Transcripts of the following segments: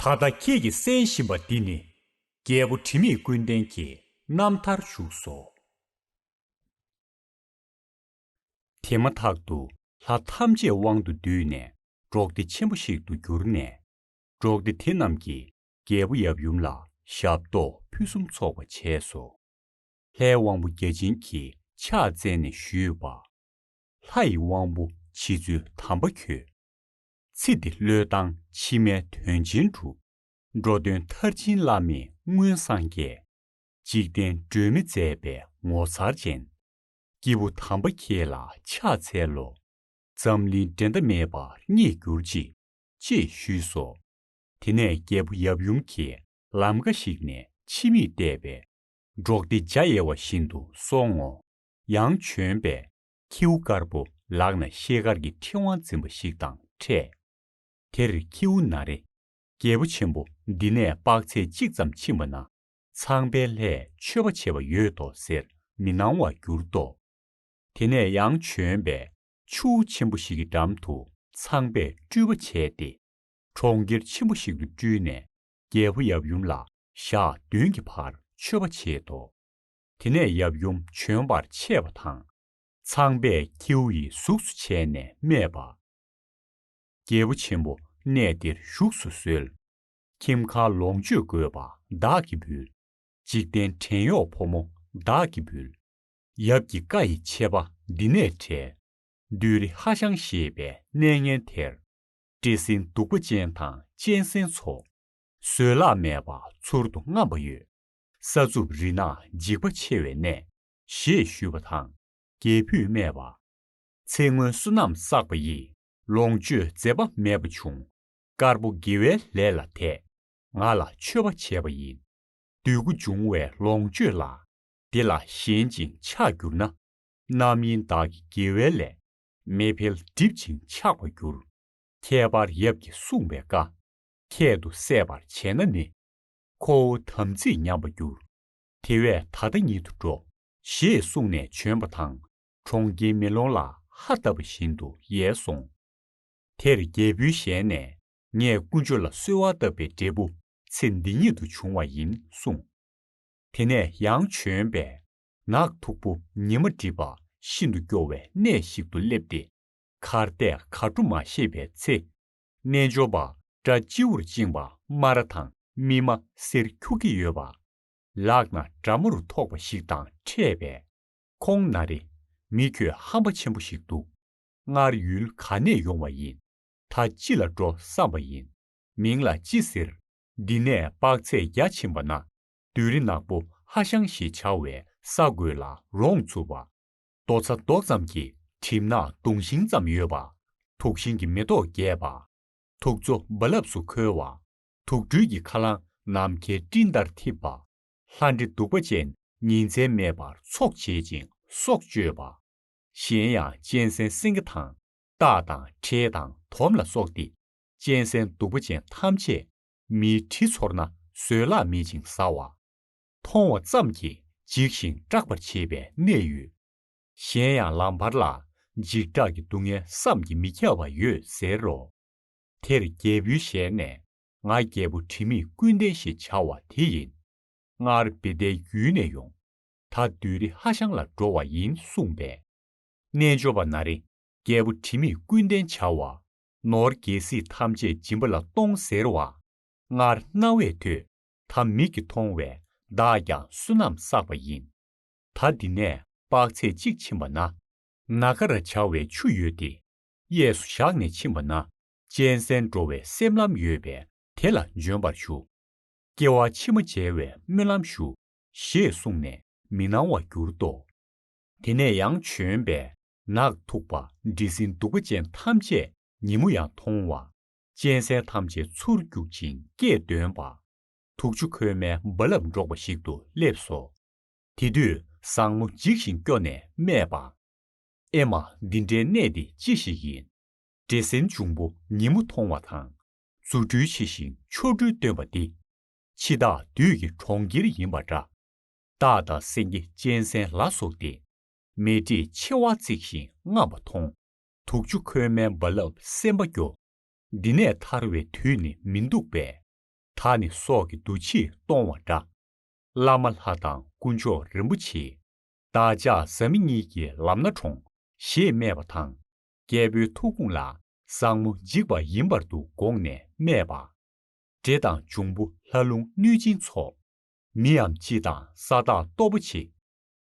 ད་ལྟ་ཁྱེད་ཀྱིས་གསན་བཞིན་པ་འདི་ནི། རྒྱལ་པོ་དྲི་མེད་ཀུན་ལྡན་གྱི་རྣམ་ཐར་བཞུགས་སོ། དེ་མ་ཐག་ཏུ་ལྷ་ཐམས་ཅད་དབང་དུ་བསྡུས་ནས་འབྲོག་སྡེ་ཆེན་པོ་ཞིག་ཏུ་གྱུར་ནས། འབྲོག་སྡེ་དེ་རྣམས་ཀྱིས་རྒྱལ་པོ་ཡབ་ཡུམ་ལ་ཞབས་ཏོག་ཕུན་སུམ་ཚོགས་པ་བྱས་སོ། ལྷའི་དབང་པོ་བརྒྱ་བྱིན་གྱིས་ཕྱག་བཙལ་ནས་ཞུས་པ། ལྷ་ཡི་དབང་པོ་མཆིས་ཚུལ་དམ་པ་ཁྱོད། ཚིག་འདི་བློས་བཏང་ཕྱི་མའི་དོན་ཆེན་འགྲུབ། འགྲོ་དོན་མཐར་ཕྱིན་བླ་མེད་མངོན་སངས་རྒྱས། འཇིག་རྟེན་སྒྲོན་མེ་མཛད་པའི་ངོ་མཚར་ཅན། སྐྱེས་བུ་དམ་པ་ཁྱེད་ལ་ཕྱག་འཚལ་ལོ། འཛམ་གླིང་འགྲན་ཟླ་མེད་པར་རྙེད་གྱུར་ཅིག། ཅེས་ཞུས་སོ། དེ་ནས་རྒྱལ་པོ་ཡབ་ཡུམ་གྱིས་ལམ་འགའ་ཞིག་ནས་ཕྱི་མིག་བལྟས་པས། འབྲོག་སྡེ་འཇའ་ཡལ་བ་བཞིན་དུ་སོང་ངོ། ཡང་བྱོན་པས་ཁྱེའུ་དཀར་པོ་ལག་ན་ཤེལ་དཀར་གྱི་ཁྲི་དབང་འཛིན་པ་ཞིག་དང་འཕྲད། དེར་ཁྱེའུ་ན་རེ། རྒྱལ་པོ་ཆེན་པོ་འདི་ནས་དཔག་ཚད་གཅིག་ཙམ་ཕྱིན་པ་ན། ཚངས་པའི་ལྷས་མཆོད་པ་བྱེད་པ་ཡོད་དོ་ཟེར་མི་སྣང་བར་གྱུར་ཏོ། དེ་ནས་ཡང་བྱོན་པས་ཆུ་བོ་ཆེན་པོ་ཞིག་གི་འགྲམ་དུ་ཚངས་པས་སྤྲུལ་པ་བྱས་ཏེ། གྲོང་ཁྱེར་ཆེན་པོ་ཞིག་ཏུ་སྤྲུལ་ནས་རྒྱལ་པོ་ཡབ་ཡུམ་ལ་ཞག་བདུན་གྱི་བར་མཆོད་པ་བྱེད་དོ། དེ་ནས་ཡབ་ཡུམ་བྱོན་པར་ཆས་པ་དང། ཚངས་པས་ཁྱེའུ་ཡི་གཟུགས་སུ་བྱས་ནས་སྨྲས་པ། རྒྱལ་པོ་ཆེན་པོ་གནས་འདིར་བཞུགས་སུ་གསོལ། ཁྱིམ་ཁ་ལོངས་སྤྱོད་དགོས་པ་བདག་གིས་འབུལ། འཇིག་རྟེན་བྲན་གཡོག་ཕོ་མོ་བདག་གིས་འབུལ། ཡབ་ཀྱི་བཀའ་ཡི་ཆད་པ་འདི་ནས་བྲལ། བདུད་རི་ཧ་ཤང་ཞེས་པའི་གནས་ངན་དེར། བཀྲེས་ཟིང་གདུག་པ་ཅན་དང་གཅན་གཟན་ཚོ། བཟོད་གླགས་མེད་པ་ཚུར་དུ་རྔམས་པ་ཡོད། ས་རྩུབ་རི་ནག་འཇིགས་པ་ཆེ་བའི་གནས། ཞེས་ཞུས་པ་དང། རྒྱལ་བུས་སྨྲས་པ། ཚེ་སྔོན་བསོད་ནམས་བསགས་པ་ཡིས་ལོངས་སྤྱོད་མཛད་པ་མེད་པ་བྱུང། དཀར་པོ་དགེ་བའི་ལས་ལ་དད། ང་ལ་མཆོད་པ་བྱས་པ་ཡིན། འདོད་དགུ་འབྱུང་བའི་ལོངས་སྤྱོད་ལ། འདི་ལ་ཞེན་ཅིང་ཆགས་གྱུར་ན། རྣམ་གཡེང་བདག་གི་དགེ་བའི་ལས། མེ་འཕེལ་སྒྲིབ་ཅིང་ཆགས་པར་འགྱུར། ཁྱད་པར་ཡབ་ཀྱིས་གསུངས་པའི་བཀའ། ཁྱད་དུ་བསད་པར་བྱས་ན་ནི། ཁོ་བོ་དམ་ཚིག་ཉམས་པར་འགྱུར། དེ་བས་ད་ལྟ་ཉིད་དུ་འགྲོ། ཞེས་གསུངས་ནས་བྱོན་པ་དང་གྲོང་ཁྱེར་མེ་ལོང་ལ་ཧ་བཏབ་པ་བཞིན་དུ་ཡལ་སོང། དེར་རྒྱལ་བུའི་ཞལ་ནས་ངས་དཀོན་མཆོག་ལ་གསོལ་བ་བཏབ་པའི་འབྲས་བུ་ཚེ་འདི་ཉིད་དུ་འབྱུང་བ་ཡིན་གསུངས། དེ་ནས་ཡང་བྱོན་པས་ནགས་མཐུག་པོ་ཉི་མ་བསྒྲིབས་པ་ཤིན་ཏུ་སྐྱོ་བའི་གནས་ཤིག་ཏུ་སླེབས་ཏེ། གར་གཏད་གར་འགྲོ་མ་ཤེས་པའི་ཚེ། རྣལ་འབྱོར་པ་སྐྲ་སྤྱིའུར་བཅིངས་པ་སྨ་ར་དང་སྨིན་མ་གསེར་འཁྱུག་གི་ཡོད་པ། ལག་ན་དགྲ་མོ་རུ་ཐོགས་པ་ཞིག་དང་འཕྲད་པས། ཁོང་ན་རེ། མི་ཁྱོད་ཧམ་པ་ཆེན་པོ་ཞིག་འདུག། སྔར་ཡུལ་ག་ནས་ཡོང་བ་ཡིན། ད་ཅི་ལ་འགྲོ་བསམ་པ་ཡིན། མིང་ལ་ཅི་ཟེར། འདི་ནས་དཔག་ཚད་བརྒྱ་ཕྱིན་པ་ན་བདུད་རི་ནག་པོ་ཧ་ཤང་ཞེས་བྱ་བའི་ས་དགོས་ལ་རོང་ཚུར་བ། རྡོ་ཚ་རྡོག་ཙམ་གྱི་གྲིབ་ནག་དུང་ཞིང་ཙམ་ཡོད་པ། དུག་ཤིང་གི་མེ་ཏོག་རྒྱས་པ། དུག་མཚོ་རྦ་རླབས་སུ་ཁོལ་བ། དུག་སྦྲུལ་གྱི་ཁ་རླངས་ནམ་མཁའི་སྤྲིན་ལྟར་འཐིབས་པ། ལྷ་འདྲེ་གདུག་པ་ཅན་ཉིན་མཚན་མེད་པར་འཚོགས་བྱེད་ཅིང་སྲོག་གཅོད་པ། གཞན་ཡང་གཅན་གཟན་སེང་གེ་དང། སྟག་དང་ཁྲེས་དང་དོམ་ལ་སོགས་ཏེ། གཅན་གཟན་གདུག་པ་ཅན་ཐམས་ཅད། མིའི་དྲི་ཚོར་ན་བཟོད་གླགས་མེད་ཅིང་ཟ་བ། མཐོང་བ་ཙམ་གྱིས་འཇིགས་ཤིང་སྐྲག་པར་བྱེད་པའི་ནད་ཡོད། གཞན་ཡང་ལམ་བར་ལ་འཇིགས་སྐྲག་གི་སྡུག་བསྔལ་བསམ་གྱིས་མི་ཁྱབ་པ་ཡོད་ཟེར་རོ། དེར་རྒྱལ་བུའི་ཞལ་ནས་ང་རྒྱལ་པོ་དྲི་མེད་ཀུན་ལྡན་ཞེས་བྱ་བ་དེ་ཡིན། སྔར་བི་ཏའི་རྒྱུད་ནས་ཡོང། ད་བདུད་རི་ཧ་ཤང་ལ་འགྲོ་བ་ཡིན་གསུངས་པས། རྣལ་འབྱོར་པ་ན་རེ་རྒྱལ་པོ་དྲི་མེད་ཀུན་ལྡན་བྱ་བ། ནོར་རྒྱལ་སྲིད་ཐམས་ཅད་སྦྱིན་པ་ལ་གཏོང་ཟེར་བ། སྔར་རྣ་བས་ཐོས། ད་མིག་གིས་མཐོང་བས་བདག་ཀྱང་བསོད་ནམས་བསགས་པ་ཡིན། ད་འདི་ནས་དཔག་ཚད་གཅིག་ཕྱིན་པ་ན། ན་ག་ར་བྱ་བའི་ཆུ་ཡོད་དེ། གཡས་སུ་བཞག་ནས་ཕྱིན་པ་ན་གཅན་གཟན་འགྲོ་བའི་སེམས་ལམ་ཡོད་པས་དེ་ལ་འབྱོན་པར་ཞུ། སྐྱེ་བ་ཕྱི་མ་འཇལ་བའི་སྨོན་ལམ་ཞུ། ཞེས་གསུངས་ནས་མི་སྣང་བར་གྱུར་ཏོ། དེ་ནས་ཡང་བྱོན་པས་ནགས་མཐུག་པ་འབྲི་སྲིན་གདུག་པ་ཅན་ཐམས་ཅད་ཉིན་མོ་ཡང་མཐོང་བ། གཅན་གཟན་ཐམས་ཅད་ཚུར་བརྒྱུག་ཅིང་སྐད་འདོན་པ། དུག་ཆུ་ཁོལ་མའི་རྦ་རླབས་འགྲོགས་པ་ཞིག་ཏུ་སླེབས་སོ། དེ་དུས་བཟང་མོ་འཇིགས་ཤིང་སྐྱོ་ནས་སྨྲས་པ། ཨེ་མ་འདི་འདྲའི་གནས་འདི་ཅི་ཞིག་ཡིན། འདྲེ་སྲིན་འབྱུང་པོ་ཉིན་མོ་མཐོང་བ་དང། རྫུ་འཕྲུལ་ཆེ་ཞིང་ཆོ་འཕྲུལ་སྟོན་པ་འདི། འཆི་བདག་བདུད་ཀྱི་གྲོང་ཁྱེར་ཡིན་པ་འདྲ། སྟག་དང་སེང་གེ་གཅན་གཟན་ལ་སོགས་ཏེ། མེ་དྲེད་མཆེ་བ་གཙིགས་ཤིང་རྔམས་པ་མཐོང། དུག་ཆུ་ཁོལ་མའི་རྦ་རླབས་སེམས་པ་སྐྱོ། འདི་ནས་ཐར་བའི་དུས་ནི་མི་འདུག་པས། ད་ནི་སྲོག་གི་འདུ་བྱེད་སྟོང་བ་འདྲ། བླ་མ་ལྷ་དང་སྐུ་མཆོག་རིན་པོ་ཆེ། བདག་ཅག་བཟའ་མི་གཉིས་ཀྱི་ལམ་སྣ་དྲོངས། ཞེས་སྨྲས་པ་དང། རྒྱལ་པོའི་ཐུགས་དགོངས་ལ་བཟང་མོ་འཇིགས་པ་ཡིན་པར་འདུག་དགོངས་ནས་སྨྲས་པ། འདྲེ་དང་འབྱུང་པོ་ལྷ་རླུང་གནོད་སྦྱིན་ཚོགས། མིའམ་ཅི་དང་ས་བདག་སྟོབས་པོ་ཆེ།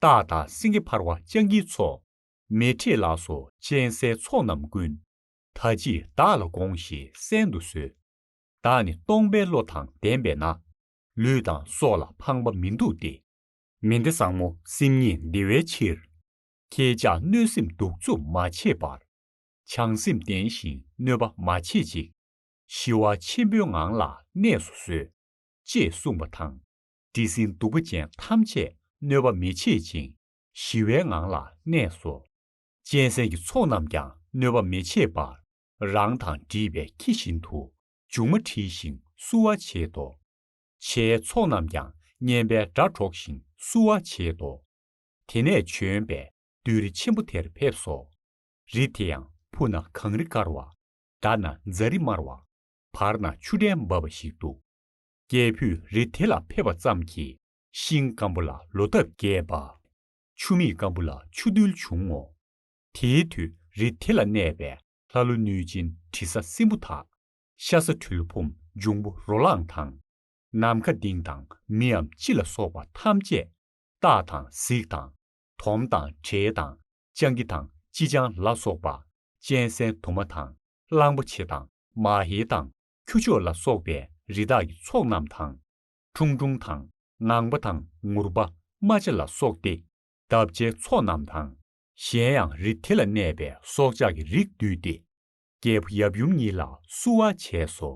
སྟག་དང་སེང་གེ་འཕར་བ་སྤྱང་ཀིའི་ཚོགས། མེ་ཁྲིད་ལགས་སོ་གཅན་གཟན་ཚོགས་རྣམས་ཀུན། ད་ཅི་བདག་ལ་དགོངས་ཞེས་གསན་དུ་གསོལ། བདག་ནི་སྟོང་པའི་བློ་དང་ལྡན་པས་ན། ལུས་དང་སྲོག་ལ་ཕངས་པ་མི་འདུག་སྟེ། མི་འདི་བཟང་མོ་སེམས་ཉིད་བདེ་བའི་ཕྱིར། ཁྱེད་ཅག་གནོད་སེམས་གདུག་རྩུབ་མ་བྱེད་པར། བྱང་སེམས་བརྟན་ཞིང་གནོད་པ་མ་བྱེད་ཅིག། ཞི་བ་ཆེན་པོའི་ངང་ལ་གནས་སུ་གསོལ། ཅེས་གསུངས་པ་དང། དྲི་ཟིན་གདུག་པ་ཅན་ཐམས་ཅད་གནོད་པ་མི་བྱེད་ཅིང་ཞི་བའི་ངང་ལ་གནས་སོ། གཅན་གཟན་གྱི་ཚོགས་རྣམས་ཀྱང་གནོད་པ་མི་བྱེད་པར། རང་དང་འདྲིས་པའི་ཁྱི་བཞིན་དུ། མཇུག་མ་དྲིལ་ཞིང་བསུ་བ་བྱེད་དོ། ཕྱའི་ཚོགས་རྣམས་ཀྱང་སྙན་པའི་སྒྲ་སྒྲོགས་ཤིང་བསུ་བ་བྱེད་དོ། དེ་ནས་བྱོན་པས་བདུད་རི་ཆེན་པོ་དེར་ཕེབས་སོ། རི་དེ་ཡང་ཕུག་ན་གངས་རི་དཀར་བ། འདར་ན་རྫ་རི་དམར་བ། བར་ན་ཆུ་ཕྲན་འབབ་པ་ཞིག་འདུག། རྒྱལ་བུས་རི་དེ་ལ་ཕེབས་པ་ཙམ་གྱིས་ཤིང་སྐམ་པོ་ལ་ལོ་འདབ་རྒྱས་པ། ཆུ་མིག་སྐམ་པོ་ལ་ཆུ་རྡུལ་འབྱུང་ངོ། དེའི་དུས་རི་དེ་ལ་གནས་པའི་ལྷ་ཀླུ་གནོད་སྦྱིན་དྲི་ཟ་སྲིན་པོ་དག། ཤ་ཟ་གྲུལ་བུམ་འབྱུང་པོ་རོ་ལངས་དང། ནམ་མཁའ་ལྡིང་དང་མིའམ་ཅི་ལ་སོགས་པ་ཐམས་ཅད། སྟག་དང་གཟིག་དང། དོམ་དང་དྲེལ་དང་སྤྱང་ཀི་དང་ཅི་ཆང་ལ་སོགས་པ། གཅན་གཟན་དུ་མ་དང་གླང་པོ་ཆེ་དང་མ་ཧེ་དང་ཁྱུ་མཆོག་ལ་སོགས་པའི་རི་དྭགས་ཀྱི་ཚོགས་རྣམས་དང། ཁྲུང་ཁྲུང་དང་ངང་པ་དང་ངུར་པ་རྨ་བྱ་ལ་སོགས་ཏེ། འདབ་བརྒྱའི་ཚོགས་རྣམས་དང། གཞན་ཡང་རི་དེ་ལ་གནས་པའི་སྲོག་ཆགས་ཀྱི་རིགས་འདུས་ཏེ། རྒྱལ་པོ་ཡབ་ཡུམ་ཉིད་ལ་བསུ་བ་བྱས་སོ།